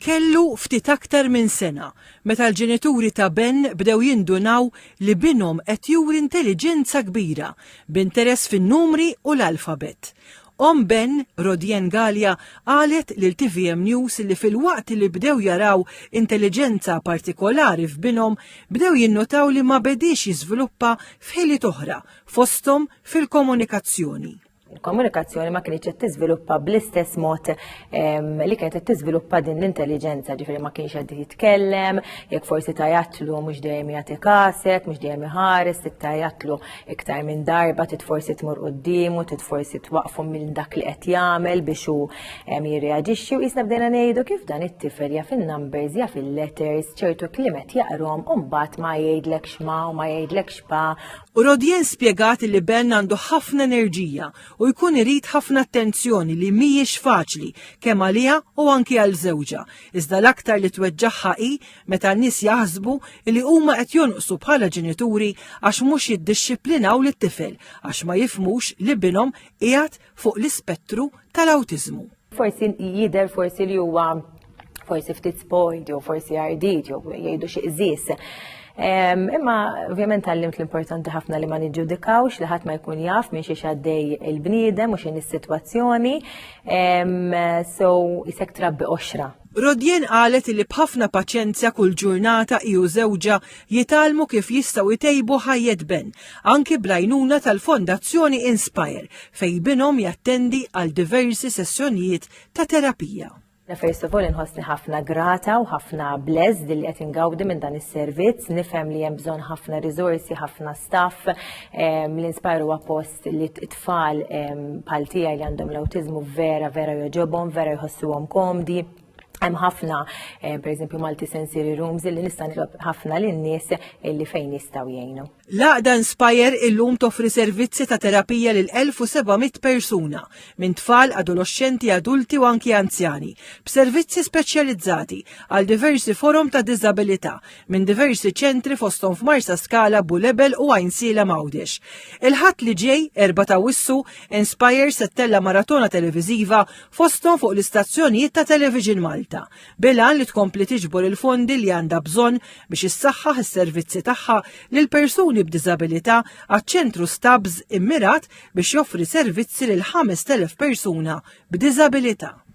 Kellu ftit aktar minn sena meta l-ġenituri ta' Ben bdew jindunaw li binhom qed juri intelliġenza kbira, b'interess fin-numri u l-alfabet. Omm Ben, Rodienne Galea, qalet lil tvm News li filwaqt li bdew jaraw intelliġenza partikolari f'binhom, bdew jinnutaw li ma bediex jiżviluppa f'ħiliet oħra, fosthom fil-komunikazzjoni. il-komunikazzjoni ma kienx qed tiżviluppa bl-istess mod li kienet qed tiżviluppa din l-intelligenza, ġifieri ma kienx qed jitkellem, jekk forsi tajatlu mhux dejjem jagħti kaset, mhux dejjem iħares, tajatlu iktar minn darba, tit forsi tmur quddiemu, tit forsi twaqfu minn dak li qed jagħmel biex hu jirreaġixxi u jisna bdejna ngħidu kif dan it-tifel jaf in-numbers, jaf il-letters, ċertu kliemet jaqrom u mbagħad ma jgħidlek x'ma u ma jgħidlek x'pa U Rodien spjegat li Ben għandu ħafna enerġija u jkun irid ħafna attenzjoni li mhijiex faċli kemm għaliha u anki għal żewġha, iżda l-aktar li tweġġagħha hi meta n-nies jaħsbu li huma qed jonqsu bħala ġenituri għax mhux jiddixxiplinaw lit-tifel għax ma jifhmux li binhom qiegħed fuq l-ispettru tal-awtiżmu. Forsi jidher forsi li huwa forsi ftit spoiled jew forsi għardit jew jgħidu xi qżis. Imma ovvjament għallimt l-importanti ħafna li ma niġġudikawx li ħadd ma jkun jaf minn xi xaddej il-bniedem u x'in is-sitwazzjoni. So isek trabbi oxra Rodien qalet li b'ħafna paċenzja kull ġurnata hi u żewġha jitgħallmu kif jistgħu jtejbu ħajjet Ben, anki bl-għajnuna tal-Fondazzjoni Inspire fejn binhom jattendi għal diversi sessjonijiet ta' terapija. Jiena first of all inħossni ħafna grata u ħafna blessed li qed ingawdi minn dan is-servizz, nifhem li hemm bżonn ħafna riżorsi, ħafna staff, l-Inspire huwa post li t-tfal bħal tiegħi li għandhom l-awtiżmu vera vera joġobhom, vera jħossuhom komdi. Hemm ħafna, eh, pereżempju Malti Sensory Rooms li nista' nitlob ħafna lin-nies li fejn jistgħu jgħinu. L-Aqda Inspire illum toffri servizzi ta' terapija lil 1700 persuna minn tfal, adolescenti, adulti u anki anzjani, b'servizzi speċjalizzati għal diversi forom ta' diżabilità minn diversi ċentri fosthom f'Marsaskala, Bulebel u Għajnsiela m'Għawdex. Il-Ħadd li ġej, Erba' ta' Awwissu, Inspire se tella' maratona televiżiva fosthom fuq l-istazzjonijiet ta' Television Malta, bil-għan li tkompli tiġbor il-fondi li għandha bżonn biex issaħħaħ is-servizzi tagħha lil persuni b'diżabilità għaċ-Ċentru Stubbs immirat biex joffri servizzi lil 5,000 persuna b'diżabilità.